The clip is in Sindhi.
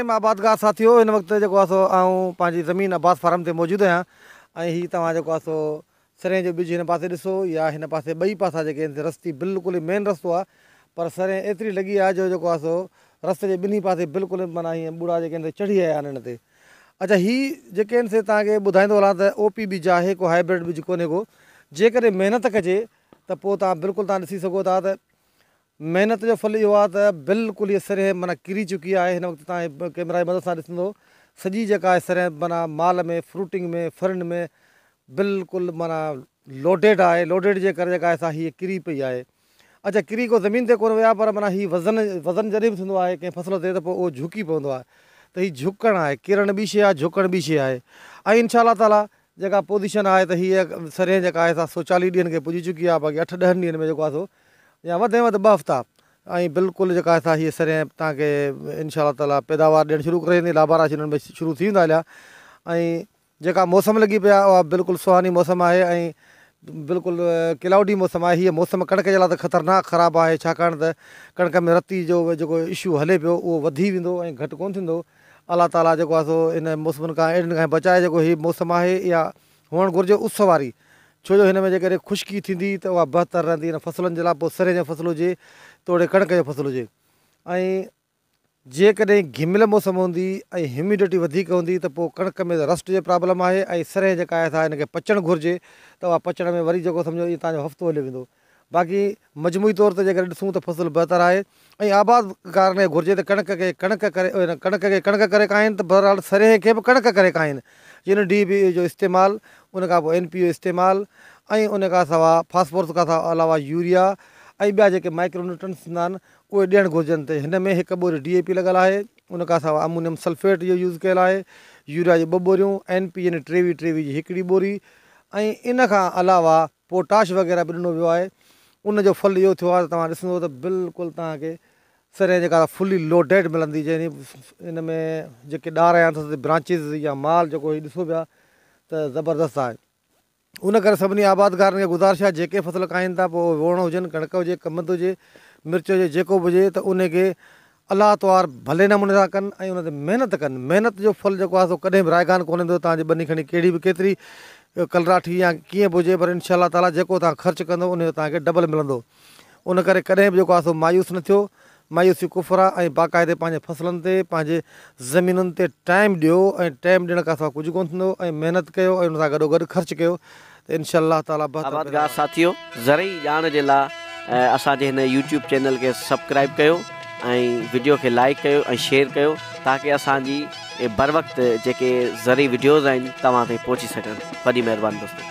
رحيم آبادگار ساٿيو هن وقت جيڪو آهي سو آئون پنهنجي زمين عباس فارم تي موجود آهيان ۽ هي توهان جيڪو آهي سو سرين جو ٻج هن پاسي ڏسو يا هن پاسي ٻئي پاسا جيڪي آهن رستي بلڪل هي مين رستو آهي پر سرين ايتري لڳي آهي جو جيڪو آهي سو رستي جي ٻنهي پاسي بلڪل معنيٰ هيئن ٻوڙا جيڪي آهن چڙهي آيا آهن هن تي اچا هي جيڪي آهن سي توهان کي ٻڌائيندو هلان ته او پي ٻج آهي ڪو هائبرڊ ٻج ڪونهي ڪو جيڪڏهن محنت ڪجي ته پوء توهان بلڪل توهان ڏسي سگهو ٿا ته محنت جو ڦل اهو آهي ته بلڪل هي سرهي معنيٰ ڪري چڪي آهي هن وقت توهان هي ڪيمرا جي مدد سان ڏسندو سڄي جيڪا آهي سرهي معنيٰ مال ۾ فروٽنگ ۾ فرنڊ ۾ بلڪل معنيٰ لوڊيڊ آهي لوڊيڊ جي ڪري جيڪا آهي سا هي ڪري پئي آهي اچا ڪري ڪو زمين تي ڪونه ويا پر معنيٰ هي وزن وزن جڏهن به ٿيندو آهي ڪنهن فصل تي ته پوء اهو جهڪي پوندو آهي ته هي جهڪڻ آهي ڪرڻ ٻي شيء آهي جهڪڻ ٻي شيء آهي ۽ انشاء الله تعالٰي جيڪا پوزيشن آهي ته هيء سرهين جيڪا آهي سا سو چاليهه ڏينهن کي پڄي چڪي آهي باقي اٺ ڏهن ڏينهن ۾ جيڪو آهي سو يا وڌ ۾ وڌ ٻه هفتا ۽ بلڪل جيڪا آهي سا هيء سرهين تان کي انشاء الله تعالٰي پيداوار ڏيڻ شروع ڪري ڏيندي لابارا شروع ٿي ويندا هليا ۽ جيڪا موسم لڳي پئي آهي اها بلڪل سهاني موسم آهي ۽ بلڪل ڪلائوڊي موسم آهي هيء موسم ڪڻڪ جي لاء ته خطرناڪ خراب آهي ڇاڪاڻ ته ڪڻڪ ۾ رتي جو جيڪو اشو هلي پيو اهو وڌي ويندو ۽ گهٽ ڪونه ٿيندو الله تعاليٰ جيڪو آهي سو ان موسمن کان اهڙين کان بچائي جيڪو هي موسم آهي اها هئڻ گهرجي اس واري ڇو جو هن ۾ جيڪڏهن خشڪي ٿيندي ته اها بهتر رهندي ان فصلن جي لاء پوء سري جي فصل هجي توڙي ڪڻڪ جو فصل هجي ۽ جيڪڏهن گهميل موسم هوندي ۽ هيوميڊٽي وڌيڪ هوندي ته پوء ڪڻڪ ۾ ته رسٽ جي پرابلم آهي ۽ سرهي جيڪا آهي سا هن کي پچڻ گهرجي ته اها پچڻ ۾ وري جيڪو سمجهو ايئن توهان جو هفتو هليو ويندو باقي مجموعي طور تي جيڪڏهن ڏسون ته فصل بهتر آهي ۽ آباد ڪارن کي گهرجي ته ڪڻڪ کي ڪڻڪ ڪري ڪڻڪ کي ڪڻڪ ڪري ڪاهين ته بهرحال سرهي کي به ڪڻڪ ڪري ڪاهين جن ڊي اي پي جو استعمال ان کان پوء اين پي جو استعمال ۽ ان کان سوا فاسفورس کان علاوه يوريا ۽ ٻيا جيڪي مائڪرو نيوٽرنس ٿيندا آهن اهي ڏيڻ گهرجن تي هن ۾ هڪ ٻوري ڊي اي پي لڳل آهي ان کان سواء امونيم سلفيٽ جو يوز ڪيل آهي يوريا جي ٻه ٻوريون اين پي يعني ٽيوي ٽيوي جي هڪڙي ٻوري ۽ ان کان علاوه پوٽاش وغيره به ڏنو ويو آهي ان جو ڦل اهو ٿيو آهي ته توهان ڏسندو ته بلڪل توهان کي سرين جي ڪار فلي لوڊيڊ ملندي جنهن ان ۾ جيڪي ڏار هيا اٿس برانچز يا مال جيڪو هي ڏسو پيا ته زبردست آهي ان ڪري سڀني آبادگارن کي گذارش آهي جيڪي فصل کائين ٿا پوء اهي ووڻ هجن، ڪڻڪ هجي، ڪمند هجي، مرچ هجي جيڪو به هجي ته انهي کي الله توار ڀلي نموني سان ڪن ۽ ان تي محنت ڪن، محنت جو ڦل جيڪو آهي سو ڪڏهن به رائگان ڪونهي هوندو توهان جي ٻني کڻي ڪهڙي به ڪيتري ڪلراٺي يا ڪيئن به هجي پر انشاء الله تعاليٰ جيڪو توهان خرچ ڪندو انهي جو توهان کي ڊبل ملندو. ان ڪري ڪڏهن به جيڪو آهي سو مايوس نه ٿيو، مايوسي ڪفر آهي ۽ باقاعدي پنهنجي فصلن تي پنهنجي زمينن تي ٽائيم ڏيو ۽ ٽائيم ڏيڻ کان سواء ڪجهه ڪونه ٿيندو ۽ محنت ڪيو ۽ ان سان گڏو گڏ خرچ ڪيو ته انشاء الله تعالي بهتر آباد گاهه ساٿيو زرعي ڄاڻ جي لا اسان جي هن يوٽيوب چينل کي سبڪرائب ڪيو ۽ وڊيو کي لائيڪ ڪيو ۽ شيئر ڪيو تاڪه اسان جي بروقت جيڪي زرعي وڊيوز آهن توهان تائين پهچي سگهن وڏي مهرباني دوستو.